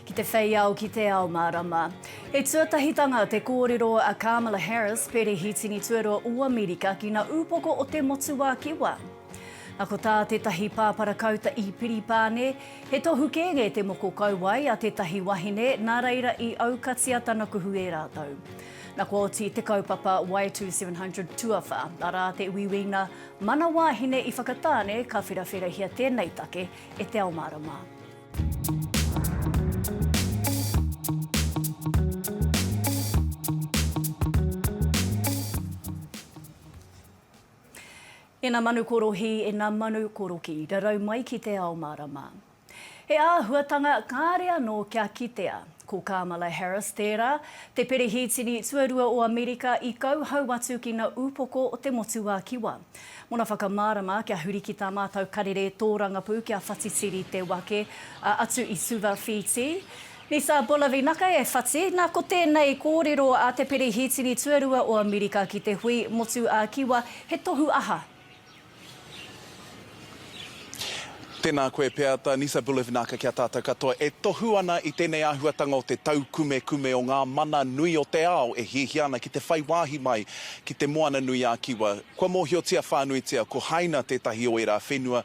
Ki te whei ao, ki te ao mārama. He tuatahitanga te kōrero a Kamala Harris, Perehitini Tuarua o Amerika ki ngā ūpoko o te motuākiwa. Nā ko tā tētahi pāparakauta i Piripāne, he tohu kēnge te moko kauae a tētahi wahine, nā reira i aukatia tana kuhu e rātou. Na kua oti te kaupapa Y2700 tuawha, arā te uiuinga Mana Wāhine i Whakatāne ka wherawherahia tēnei take e Te Ao Mārama. Ena manu korohi, ena manu koroki, rarau mai ki Te Ao Mārama. He āhuatanga kāre anō kia kitea. Ko Kamala Harris tērā, te Perehitini Tuarua o Amerika i kauhau atu ki na upoko o te Motuakiwa. Mona whakamārama kia huri ki tā mātou karere tōrangapū kia whatitiri te wake, a atu i Suva Whītī, Nisa Bolavinaka e whati, na ko tēnei kōrero a te Perehitini Tuarua o Amerika ki te hui Motuakiwa he tohu aha? Tēnā koe Peata, Nisa Bulevinaka ki a tātou katoa e tohu ana i tēnei āhuatanga o te taukumekume o ngā mana nui o te ao e hiahia ana ki te whai wāhi mai ki Te Moana-nui-a-Kiwa. Kua mōhiotia whānuitia ko Haina tētahi o ērā whenua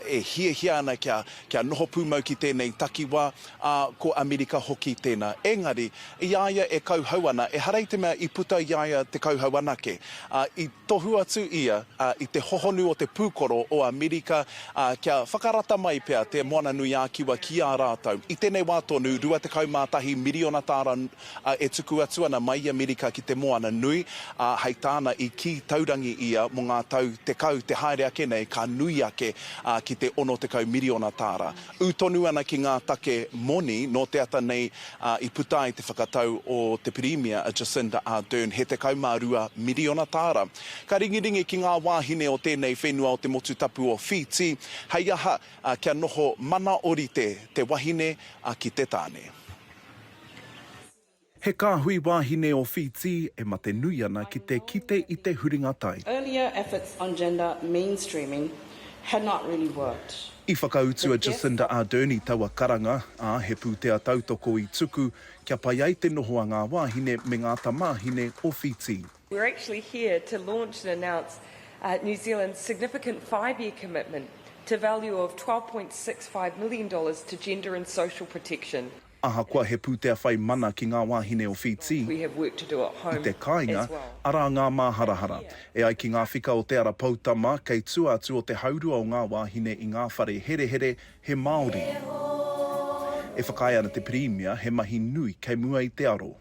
e hiahia ana kia kia noho pūmau ki tēnei takiwā, ā, ko Amerika hoki tēnā. Engari, i a ia e kauhau ana, ehara i te mea i puta i a ia te kauhau anake, ā, i. Tohu atu ia i te hohonu o te pūkoro o Amerika kia whakarata mai pea te Moana-nui-ā-Kiwa ki a rātou. I tēnei wā tonu, 21 miriona tāra e tuku atu ana mai i Amerika ki te moana nui, ā, hei tāna i kī taurangi ia mō ngā tau tekau te haere ake nei ka nui ake ki te 60 miriona tāra. Ū tonu ana ki ngā take moni nō te ata nei i puta ai te whakatau o te Pirimia a Jacinda Ardern, he 12 miriona tāra. Ka ringiringi ki ngā wāhine o tēnei whenua o te motu tapu o Whītī, hei aha, kia noho mana orite te wahine ki te tāne. He kāhui wāhine o Whītī e mate nui ana ki te kite i te huringa tai. Earlier efforts on gender mainstreaming had not really worked. I whakautu a Jacinda Ardern i taua karanga, ā, he pūtea tautoko i tuku kia pai ai te noho a ngā wāhine me ngā tamāhine o Whītī. We're actually here to launch and announce New Zealand's significant five-year commitment to value of twelve point six five million dollars to gender and social protection. Ahakoa he pūtea whai mana ki ngā wāhine o Whītī i te kāinga, arā ngā māharahara. E ai ki ngā whika o Te Ara Poutama, kei tua atu o te haurua o ngā wāhine i ngā whare herehere, he Māori. E whakaae ana te Pirimia he mahi nui kei mua i te aro.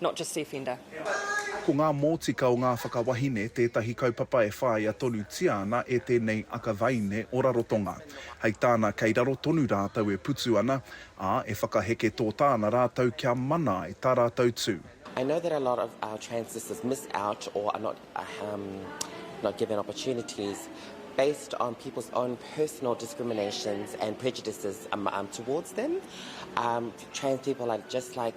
not just the offender. Ko ngā mōtika o ngā whakawahine tētahi kaupapa e whāia tonutia ana e tēnei akawaine o Rarotonga. Hei tāna kei raro tonu rātou e putu ana, ā, e whakaheke tōtā ana rātou kia mana ai tā rātou tū. I know that a lot of our trans sisters miss out or are not um, not given opportunities based on people's own personal discriminations and prejudices um, um, towards them. Um, trans people are just like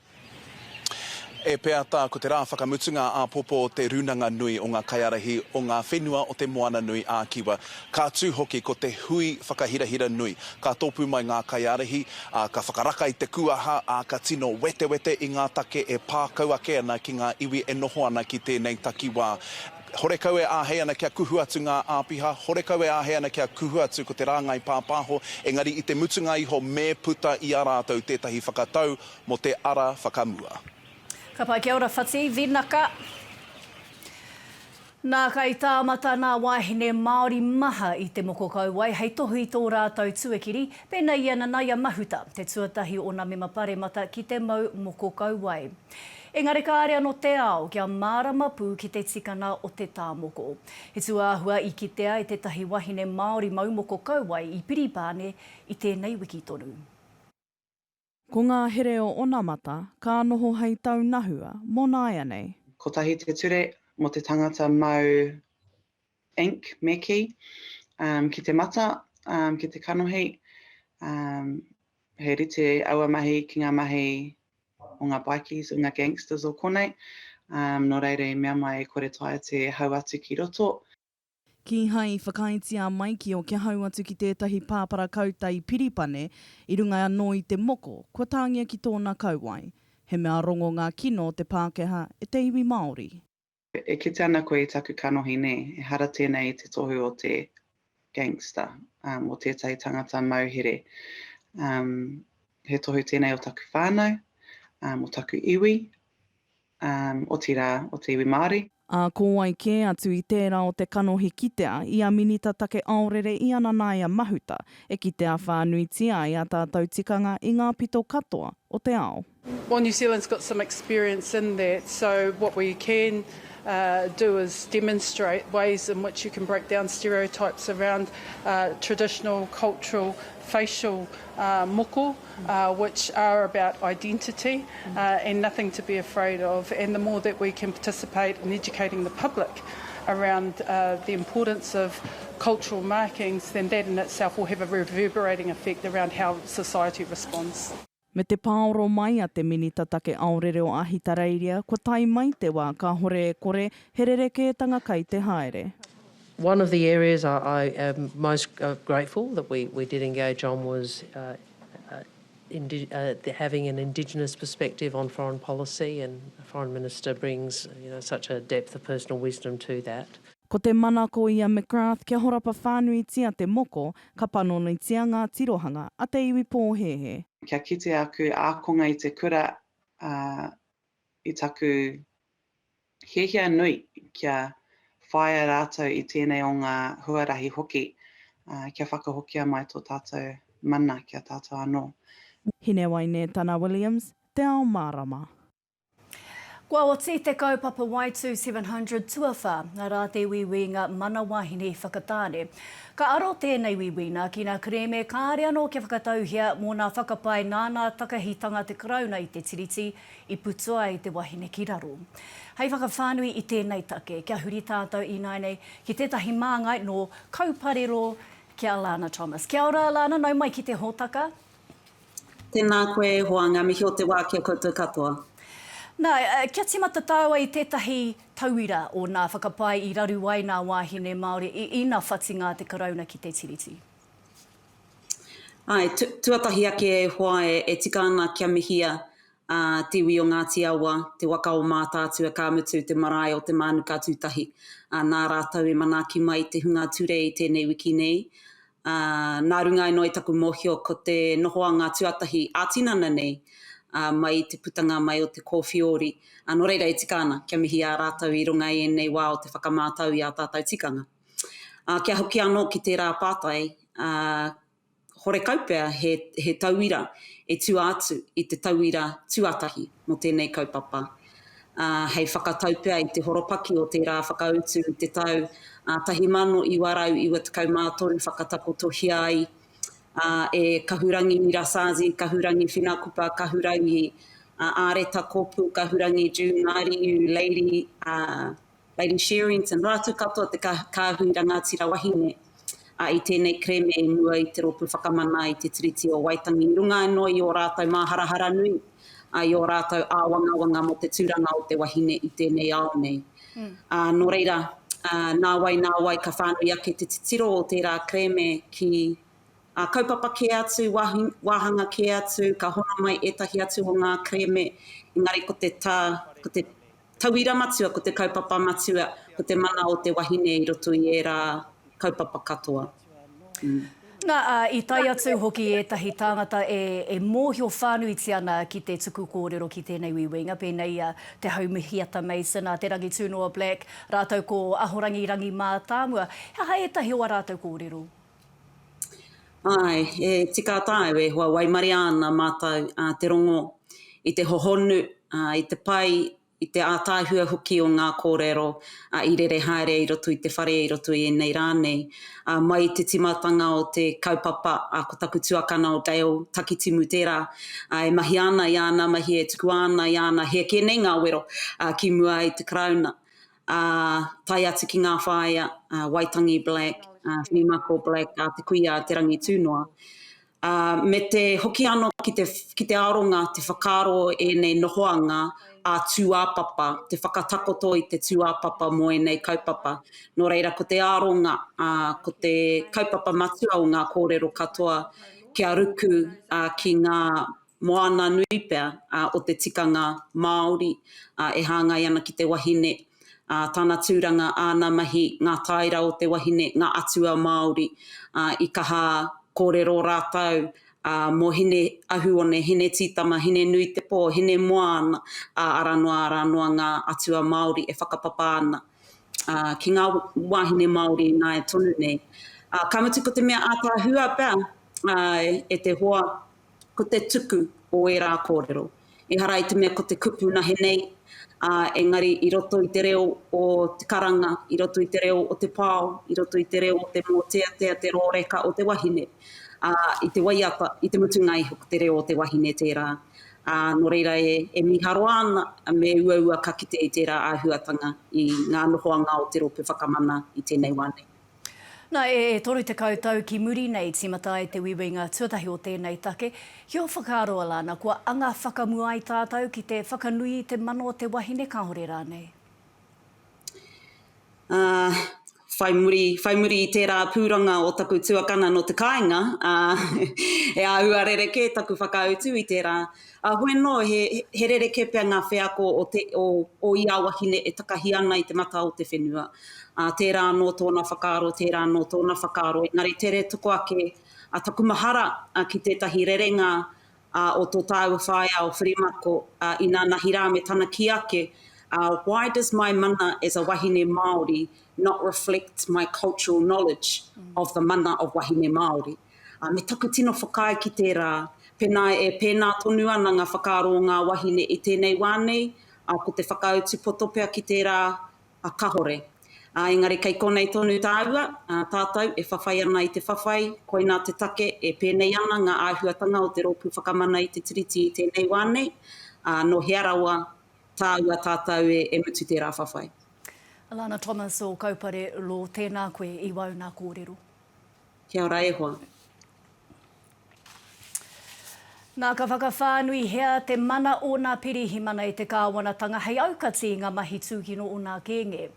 E pea tā, ko te rā whakamutunga āpōpō o te Rūnanga Nui o ngā Kaiārahi o ngā Whenua o te Moana Nui ā Kiwa. Ka tū hoki ko te hui whakahirahira nui. Ka tōpū mai ngā kaiārahi, ā, ka whakaraka i te kūaha, ā, ka tino wetewete i ngā take e pā kau ake ana ki ngā iwi e noho ana ki tēnei takiwā. Horekau e āhei ana kia kuhu atu ngā āpiha, horekau e āhei ana kia kuhu atu ko te rāngai pāpāho, engari i te mutunga iho me puta i a rātou tētahi whakatau, Mo te ara whakamua. Ka pai kia ora whati vinaka. Nā kai tāmata nā wāhine Māori maha i te moko kauae hei tohu i tō rātou tuakiri, pēnei i a Nanaia Mahuta, te tuatahi o nā mema paremata ki te mau moko kauae. Engari kāre anō te ao kia mārama pū ki te tikanga o te tā moko. He tūāhua i kitea e tētahi wahine Māori mau moko kauae i Piripāne i tēnei wiki tonu. Ko ngā here o onamata ka noho hei taunahua mō nāianei. Kotahi te ture mō te tangata mau ink me kī ki te mata, ki te kanohi, he rite aua mahi ki ngā mahi o ngā bikies, o ngā gangsters o konei, nō reira i mea mai e kore taea te hau atu ki roto. Kīhai i whakaaetia mai ki o kia hau atu ki tētahi pāpara kauta i Piripane, i runga anō i te moko, kua tāngia ki tōna kauae. He mea rongo ngā kino o te Pākehā e te iwi Māori. E kite ana koe i taku kanohi nē? Ehara tēnei i te tohu o te gangster, um, o tētahi tangata mauhere. Um, he tohu tēnei o taku whānau, um, o taku iwi. otirā, o te iwi Māori. Ā, ko wai kē atu i tērā o te kanohi kitea i a Minita Take Aorere i a Nanaia Mahuta, e kitea whānuitia ai ā tātou tikanga i ngā pito katoa o te ao. Well New Zealand's got some experience in that so what we can do is demonstrate ways in which you can break down stereotypes around traditional, cultural, facial moko. which are about identity and nothing to be afraid of and the more that we can participate in educating the public around the importance of cultural markings then that in itself will have a reverberating effect around how society responds. Me te pāoro mai a te Minita Take Aorere o Ahitereiria, kua tae mai te wā kāhore e kore he rerekētanga kai te haere. One of the areas I am most grateful that we did engage on was having an Indigenous perspective on foreign policy and the Foreign Minister brings such a depth of personal wisdom to that. Ko te manako i a McGrath kia horapa whānuitia te moko, ka panonitia ngā tirohanga a te iwi pōhēhē. Kia kite aku ākonga i te kura, ā, i taku hiahia nui kia whāia rātou i tēnei o ngā huarahi hoki, kia whakahokia mai tō tātou mana ki a tātou anō. Hinewaine Tana Williams, Te Ao Mārama. Kua oti te kaupapa Waitu 700 tuawha, arā te uiuinga mana wahine whakatāne. Ka aro tēnei Wiwina ki nā kerēme kāre anō kia whakatauhia mō nā whakapae nāna takahitanga te Karauna i te Tiriti i putu ai te wahine ki raro. Hei whakawhānui i tēnei take, kia huri tātou ināinei ki tētahi māngai nō Kauparero ki a Lana Thomas. Kia ora Lana, nau mai ki te hōtaka. Tēnā koe e hoa, ngā mihi o te wā ki a koutou katoa. Nā, kia tīmata tāua i tētahi tauira o nā whakapae i raru ai nā wāhine Māori i ina whatinga a te Karauna ki te Tiriti. Āe, tuatahi ake e hoa e tika ana kia mihia a Te Iwi o Ngāti Awa, te waka o Mātaatua ka mutu te marae o Te Mānuka Tūtahi. Nā rātou i manaaki mai te hunga ture i tēnei wiki nei, Nā runga anō i taku mōhio ko te noho a ngā tuatahi ā-tinana nei mai i te putanga mai o te kōwhiori, nō reira e tika ana kia mihi i a rātou i runga i ēnei wā o te whakamātau i ā tātou tikanga. Kia hoki anō ki tērā pātai, horekau pea he tauira e tua atu i te tauira tuatahi mō tēnei kaupapa. ā, hei whakatau pea i te horopaki o tērā whakautu i te tau 1993 whakatakotohia ai e Kahurangi Rasazi, Kahurangi Whinakupa, Kahurangi Āreta Kopu, Kahurangi June Ngāriiu, Lady. Lady Sherrington, rātou katoa te Kāhui Rangātira Wahine i tēnei kerēme i mua i te Rōpū Whakamana i te Tiriti o Waitangi i runga anō i ō rātou māharahara nui, i ō rātou āwangawanga mō te tūranga o te wahine i tēnei ao nei. Nō reira, nāwai nāwai ka whānui ake te titiro o tērā kerēme ki kaupapa kē atu, wāhanga kē atu, ka hono mai ētahi atu o ngā kerēme, engari ko te tā, ko te Tauira matua ko te kaupapa matua ko te mana o te wahine i roto i ērā kaupapa katoa. Nā, ā, i tae atu hoki ētahi tāngata e, e mōhio whānuitia ana ki te tuku kōrero ki tēnei uiuinga, pēnei i a Te Haumihiata Mason, a Te Rangitūnoa Black, rātou ko Ahorangi Rangi Mātāmua. He aha ētahi o ā rātou kōrero? Āe, e tika tāu e hoa waimaria ana mātou te rongo i te hohonu, i te pai, i te ātaahua hoki o ngā kōrero i rere haere i roto i te whare, i roto i ēnei rā nei. Mai i te tīmatanga o te kaupapa, ko taku tuakana o Dale Takitimu tērā, e mahia ana i āna mahi, e tukua ana i āna, he kē nei ngā wero ki mua i te Karauna. ā, tae atu ki ngā whāea, ā, Waitangi Black, ā, Whinimako Black, ā, te kuia a Te Rangitūnoa. Ā, me te hoki anō ki te, ki te aronga, te whakaaro ēnei nohoanga ā tūāpapa, te whakatakoto i te tūāpapa mō ēnei kaupapa. Nō reira, ko te aronga, ā, ko te kaupapa matua o ngā kōrero katoa kia ruku, ā, ki ngā moana nui pea o te tikanga Māori e hāngai ana ki te wahine, tana tūranga, āna mahi, ngā tāera o te wahine, ngā atua Māori i kaha kōrero rātou mō Hine Ahuone, Hine Tītama, Hine Nui Te Pō, Hine Moana, ā, arā noa, arā noa ngā atua Māori e whakapapa ana ki ngā wāhine Māori i nāia tonu nei. Ka mutu ko te mea ātaahua pea e te hoa, ko te tuku o ērā kōrero. Ehara i te mea ko te kupu nahe nei, ā, engari i roto i te reo o te karanga, i roto i te reo o te pao, i roto i te reo o te mōteatea, te rōreka o te wahine, ā, i te waiata, i te mutunga iho ko te reo o te wahine tērā. Ā, nō reira e, e mīharo ana me uaua ka kite i tērā āhuatanga i ngā nohoanga o te rōpū whakamana i tēnei wā nei. Na, e 30 tau ki muri nei tīmata ai te wiwinga tuatahi o tēnei take, ki o Whakaroa la, na kua anga whakamua ai tātou ki te whakanui i te mana o te wahine kahore rānei. Ā, whai muri, whai muri i tērā pūranga o taku tuakana nō te kāinga, ā, e āhua rerekē taku whakautu i tērā Ā, hoi anō, he, he rerekē pea ngā wheako o, te, o, o ia wahine e takahi ana i te matā o te whenua. Ā, tērā anō tōna whakaaro, tērā anō tōna whakaaro, engari tere toko ake a taku mahara a, ki tētahi rerenga a, o tō tāua whaea o Whirimako, a, inanahi rā me tana kī ake, a, Why does my mana as a wahine Māori not reflect my cultural knowledge of the mana of wahine Māori? Ā, me taku tino whakaae ki tērā, pēnā e pēnā tonu ana ngā whakaaro o ngā wāhine i tēnei wā nei, ā, ko te whakautu poto pea ki tērā, ā, kahore. Ā, engari kei konei tonu tāua, ā, tātou e whawhai ana i te whawhai, koinā te take e pēnei ana ngā āhuatanga o te Rōpū Whakamana i te Tiriti i tēnei wā nei, ā, nō hea rawa tāua tātou e, e mutu tērā whawhai. Lana Thomas o Kaupare Law, tēnā koe i wauna kōrero. Kia ora e hoa. Nā, ka whakawhānuihia te mana o nā pirihimana i te kāwanatanga hei aukati i ngā mahi tūkino o nā kēnge.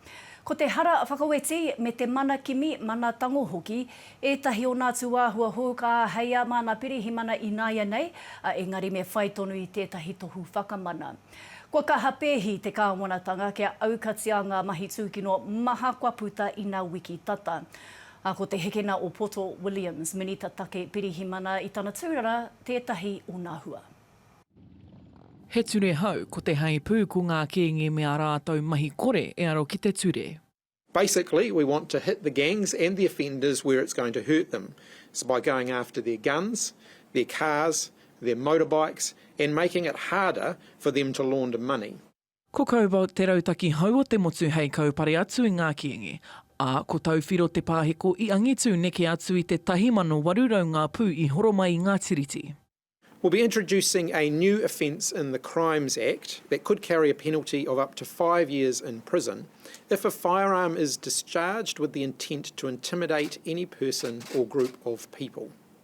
Ko te hara whakaweti me te mana kimi, mana tango hoki, ētahi o nā tūāhua hou ka āheia mā nā pirihimana ināianei, a engari me whai tonu i tētahi tohu whakamana. Kua kaha pēhi te kāwanatanga kia aukatia ngā mahi tūkino maha kua puta ina wiki tata. ā, ko Te Hekena o Poto Williams, Minita Take Pirihimana i tana tūrara tētahi o nā hua. He ture hau, ko te heipū, ko ngā kīngi me ā rātou mahi kore e aro ki te ture. Basically, we want to hit the gangs and the offenders where it's going to hurt them, so by going after their guns, their cars, their motorbikes and making it harder for them to launder money. Ko Cobalt te rautaki hou o te motu hei kaupare atu i ngā kīngi, ā, ko Tauwhiro te pāheko i angitu neke atu i te 1800 ngā pū i horo mai i ngā tiriti. We'll be introducing a new offence in the Crimes Act that could carry a penalty of up to five years in prison if a firearm is discharged with the intent to intimidate any person or group of people.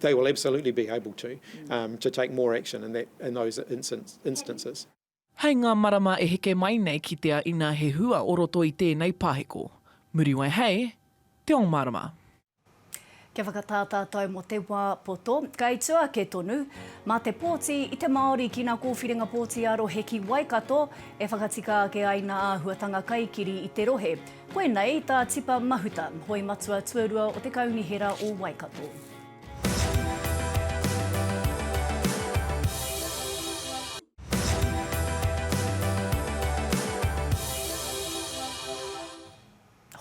they will absolutely be able to um to take more action in that in those instances. Hei ngā marama e heke mai nei kitea ina he hua o roto i tēnei paheko. Muriwai hei Te Ao Marama. Kia whakatā tātou mō te wā poto, kei tua ake tonu. Mā te pōti i te Māori ki nā kōwhiringa pōti ā-rohe ki Waikato e whakatika ake ai nā āhuatanga kaikiri i te rohe. Koinei tā Tipa Mahuta, hoi matua tuarua o te Kaunihera o Waikato.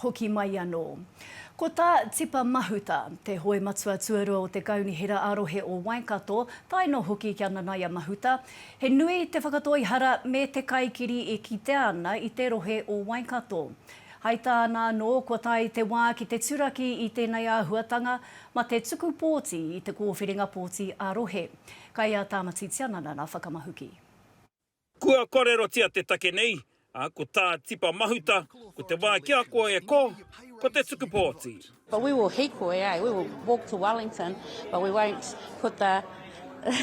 Hoki mai anō. Ko tā Tipa Mahuta, te hoi matua tuarua o te Kaunihera ā-Rohe o Waikato, tae noa hoki ki a Nanaia Mahuta, He nui te whakatoihara me te kaikiri e kitea ana i te rohe o Waikato. Hai tāna anō, kua tae te wā ki te turaki i tēnei āhuatanga, ma te tuku pōti i te kōwhiringa pōti ā-rohe. Kai a Tāmati Tiananana whakamahuki. Kua kōrerotia te take nei Ā, ko tā Tipa Mahuta, ko te wā ki a koe e ko, ko te tuku pōti. But we will hīkoi, eh, we will walk to Wellington, but we won't put the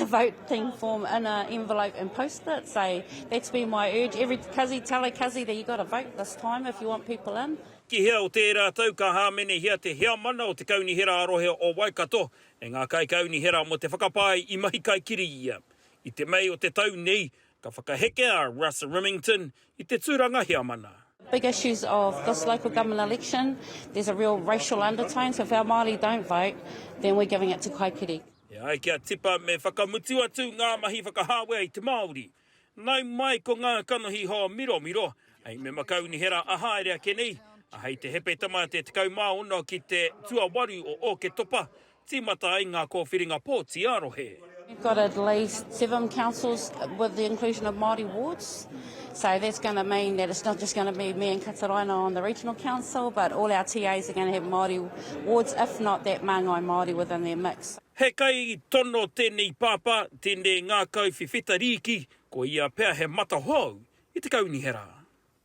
voting form in a envelope and post it, so that's been my urge, every kazi, tell a kazi that you've got to vote this time if you want people in. Ki hea o tērā tau ka hāmenehia te Heamana o te Kaunihera ā-Rohe o Waikato e ngā Kaikaunihera mō te whakapae i mahi kaikiri ia. I te Mei o te tau nei, Ka whakaheke a Russ Rimmington i te tūranga heamana. Big issues of this local government election, there's a real racial undertone, so if our Māori don't vote, then we're giving it to Kaikiri. E ai ki a Tipa me whakamutu atu ngā mahi whakahāwea i te Māori. Nau mai ko ngā kanohi hoa miromiro, hei mema kaunihera a haere ake nei, a hei te Hepetama te 16 ki te tuawaru o Ōketopa, Tīmata ai ngā kōwhiringa pōti ā-rohe. We've got at least seven councils with the inclusion of Māori wards, so that's going to mean that it's not just going to be me and Kataraina on the regional council, but all our TAs are going to have Māori wards, if not that māngai Māori within their mix. He kai tono tēnei pāpā, tēnei ngākau whiwhita rīki, ko ia pea he matahou i te kaunihera.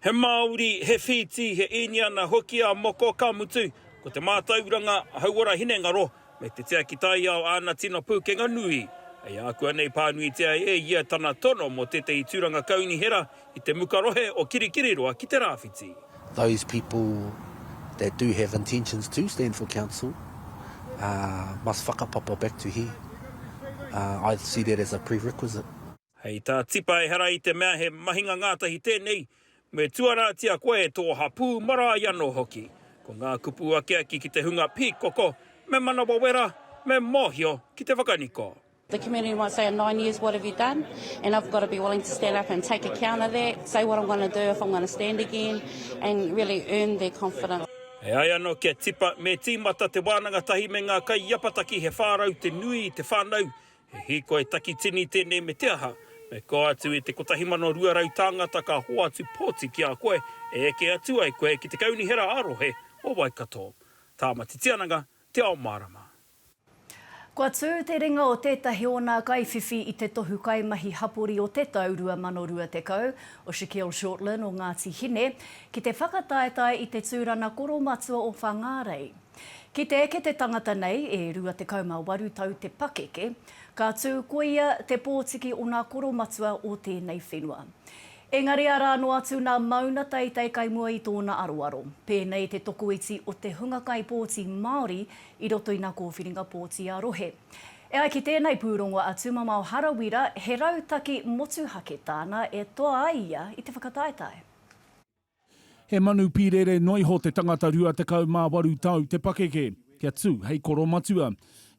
He Māori, he whīti, he Īniana hoki a Moko, ka mutu, ko te mātauranga, hauora hinengaro, me te tiaki taiao āna tino pūkenga nui. Hei ākuanei pānuitia e ia tana tono mō tētehi tūranga kaunihera i te muka rohe o Kirikiriroa ki te rāwhiti. Those people that do have intentions to stand for council must whakapapa back to here. I see that as a prerequisite. Hei tā Tipa ehara i te mea he mahinga ngātahi tēnei, me tuarātia koe e tō hapū marae anō hoki. Ko ngā kupu akiaki ki te hunga pīkoko, me manawa wera, me mōhio ki te whakaniko. The community might say in nine years what have you done and I've got to be willing to stand up and take account of that, say what I'm going to do if I'm going to stand again and really earn their confidence. E ai anō ki a Tipa, me tīmata te wānanga tahi me ngā kaiapataki he whārau te nui i te whānau, He hīkoi takitini tēnei me te aha, me kō atu i te 1,200 tāngata ka hoatu pōti ki a koe e eke atu ai koe ki te Kaunihera ā-Rohe o Waikato. Tāmati Tiananga, Te Ao Mārama. Kua tū te ringa o tētahi o nā kaiwhiwhi i te tohu kaimahi hapori o te tau 2020, o Shaquille Shortland o Ngāti Hine, ki te whakataetae i te tūrana koromatua o Whangārei. Ki te eke te tangata nei, e 28 tau te pakeke, ka tū koia te pōtiki o nā koro matua o tēnei whenua. Engari arā noa atu nā Mauna Teitei kai mua i tōna aroaro. Pēnei te tokoiti o te hunga kaipōti Māori i roto i nā kōwhiringa pōti ā-rohe. E ai ki tēnei pūrongo a Tūmamao Harawira, he rautaki motuhake tāna e toa ai ia i te whakataetae. He manu pīrere noa iho te tangata 28 tau te pakeke, kia tū hei koromatua.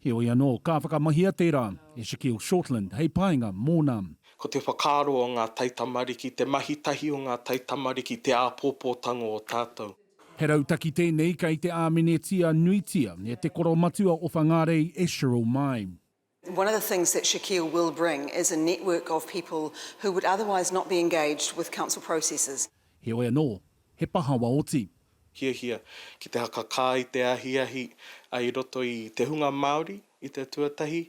Heoi anō, ka whakamahia tērā e Shaquille Shortland hei painga mōna. Ko te whakaaro o ngā taitamariki, te mahi tahi o ngā taitamariki, te āpōpōtango o tātou. He rautaki tēnei kei te āmenetia nuitia e te koromatua o Whangārei e Cheryl Mai. One of the things that Shakeel will bring is a network of people who would otherwise not be engaged with council processes. Heoi anō, he pahawa oti. Hiahia ki te hakakā i te ahiahi i roto i te hunga Māori i te tuatahi,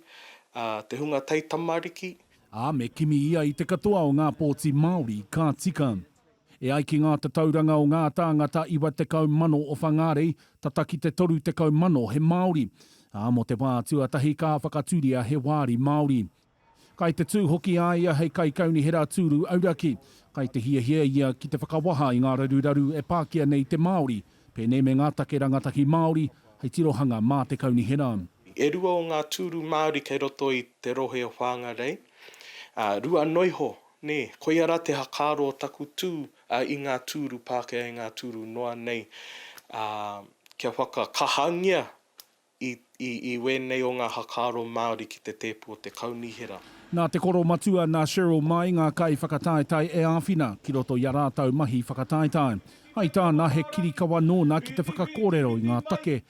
ā, te hunga taitamariki. Ā, me kimi ia i te katoa o ngā pōti Māori ka tika. E ai ki ngā tatauranga o ngā tāngata 90,000 o Whangārei, tata ki te 30,000 he Māori. Ā, mō te wā tuatahi ka whakatūria he wāri Māori. Kai te tū hoki a ia hei kaikaunihera tūru auraki. Kai te hiahia ia ki te whakawaha i ngā raruraru e pākia nei te Māori, pēnei me ngā take rangatahi Māori, hei tirohanga mā te kaunihera. E rua o ngā tūru Māori kei roto i te rohe o Whāngarei, ā, rua noa iho Nē, koia rā te hakaaro o taku tū i ngā tūru Pākehā, i ngā tūru noa nei, ā, kia whakakahangia i, i, i wēnei o ngā hakaaro Māori ki te tēpu o te Kaunihera. Nā te koro matua, nā Cheryl Mai ngā kaiwhakataetae e āwhina ki roto i a rātau mahi whakataetae. Hai tāna, he kirikawa nōna ki te whakakōrero i ngā take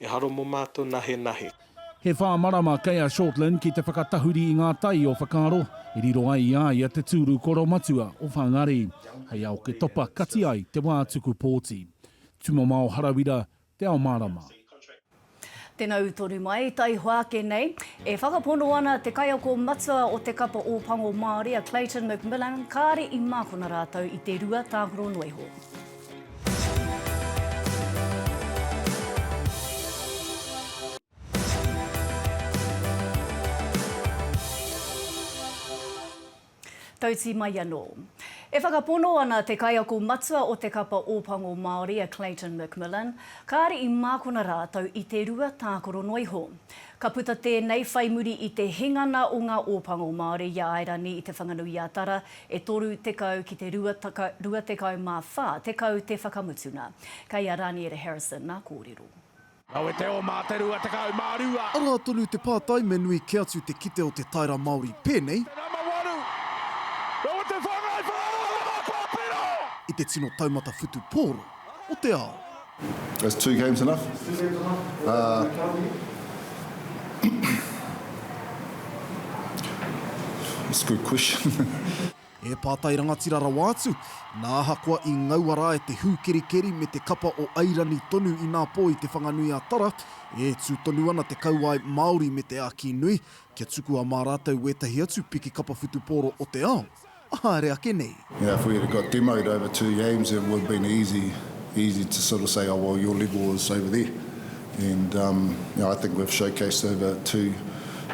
E haro mo matou nahe nahe. He whā marama kei a Shortland ki te whakatahuri i ngā tai o whakaaro e riro ai i a ia te tūru koro matua o Whangari, hei ao ke topa kati ai te wā tuku pōti. Tumamao Harawira, Te Ao Mārama. Tena utoru mai, taihoa ake nei, e whakapono ana te kaiako matua o te kapa Ōpango Māori a Clayton McMillan kāre i mākona rātou i te rua tākaro noa iho. Tauti mai anō. E whakapono ana te kaiako matua o te kapa Ōpango Māori a Clayton McMillan, kāre i mākona rātou i te rua tākaro noa iho. Ka puta tēnei whai muri i te hingana o ngā Ōpango Māori i a Airani i Te Whanganui-a-Tara e toru tekau ki te rua rua tekau mā whā tekau te whakamutuna. Kei a Raniere Harrison ngā kōrero. Rawe te o mā te rua tekau mā rua. Arā tonu te pātai me nui kē atu te kite o te Taira Māori pēnei. Te nama waru. Rawe te whāngai whakaaro o ngā pāpiro. I te tino taumata whutu pōro. o te ao. Is two games enough? That's a good question. He pātai rangatira rawa atu, nā ahakoa i ngaua rā e te hūkerikeri me te kapa o Airani tonu inā pō i Te Whanganui a Tara, e tū tonu ana te kauae Māori me te āki nui kia tukua mā rātou wētahi atu piki kapa whutupōro o te ao. haere ake nei. Yeah if we had got demoed over two games it would been easy easy to sort of say oh well your level is over there and um I think we've showcased over two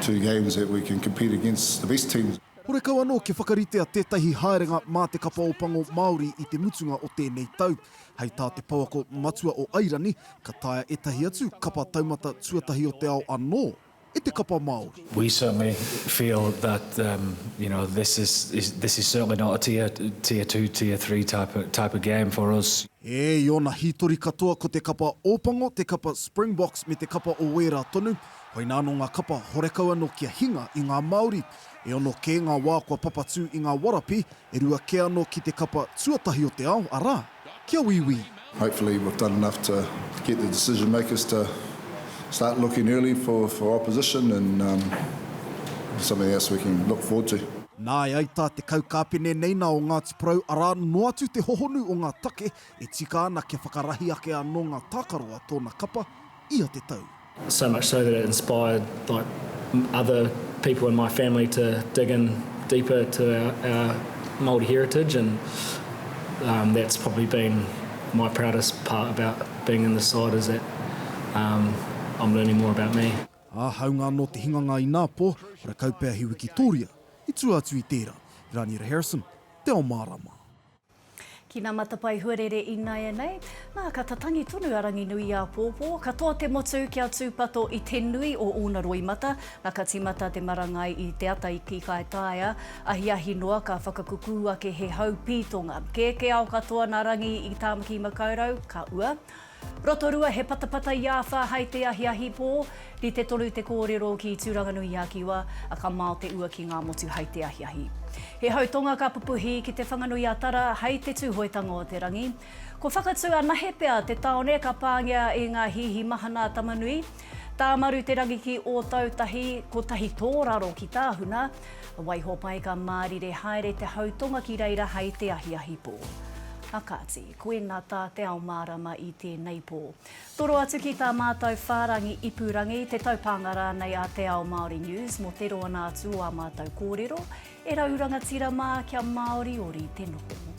two games that we can compete against the best teams. Horekau anō kia whakaritea tētahi haerenga mā te Kapa o Pango Māori i te mutunga o tēnei tau. Hei tā te pouako matua o Airani, ka taea ētahi atu kapa taumata tuatahi o te ao anō, e te kapa Māori. We certainly feel that um, you know, this is, is, this is certainly not a tier, tier two, tier three type of, type of game for us. E, i ōna hītori katoa ko te kapa Ōpango, te kapa Springboks me te kapa o wērā tonu, koinā anō ngā kapa horekau anō kia hinga i ngā Māori. E ono kē ngā wā kua papatū i ngā warapi, e rua kē anō ki te kapa tuatahi o te ao, arā, kia wīwī. Hopefully we've done enough to get the decision makers to start looking early for for opposition and um something else we can look forward to. Nāe ai tā te kaukāpene nei nā o Ngāti Porou arā noa atu te hohonu o ngā take e tika ana kia whakarahi ake anō ngā tākaro a tōna kapa ia te tau. So much so that it inspired like other people in my family to dig in deeper to our Māori heritage and that's probably been my proudest part about being in this side is that I'm learning more about me. Ā, hāunga anō te hinganga i nā pō, rakau pea he wikitōria i tua atu i tērā. Raniera Harrison, Te Ao Mārama. Ki ngā matapae huarere ināianei, nā, ka tatangi tonu a Ranginuiāpōpō, ka toa te motu kia tūpato i te nui o ōna roimata, nā, ka tīmata te marangai i te ata i Kīkaitaia, ahiahi noa ka whakakukū ake he hau pītonga. Kēkēao katoa nā Rangi i Tāmaki-makau-rau, ka ua. Rotorua, he patapata i āwha hai te ahiahi pō, rite tonu te kōrero ki Tūranganui-i-a-Kiwa, a ka mao te ua ki ngā motu hai te ahiahi. He hau tonga ka pupuhi ki Te Whanganui-a-Tara hai te Tūhoetanga o te Rangi. Ko Whakatū anahe pea te taone ka pāngia i ngā hīhi mahana a Tamanui. Tāmaru-te-rangi ki Ōtautahi, kotahi tōraro ki Tāhuna. Waiho pai ka mārire haere te hau tonga ki reira hai te ahiahi pō. A kāti. Koe nga tā te ao mārama i tēnei pō. Toro atu ki tā mātou whārangi ipurangi, te taupānga rānei a Te Ao Māori News mō te roana atu o ā mātou kōrero, e rau rangatira mā kia māoriori te noho.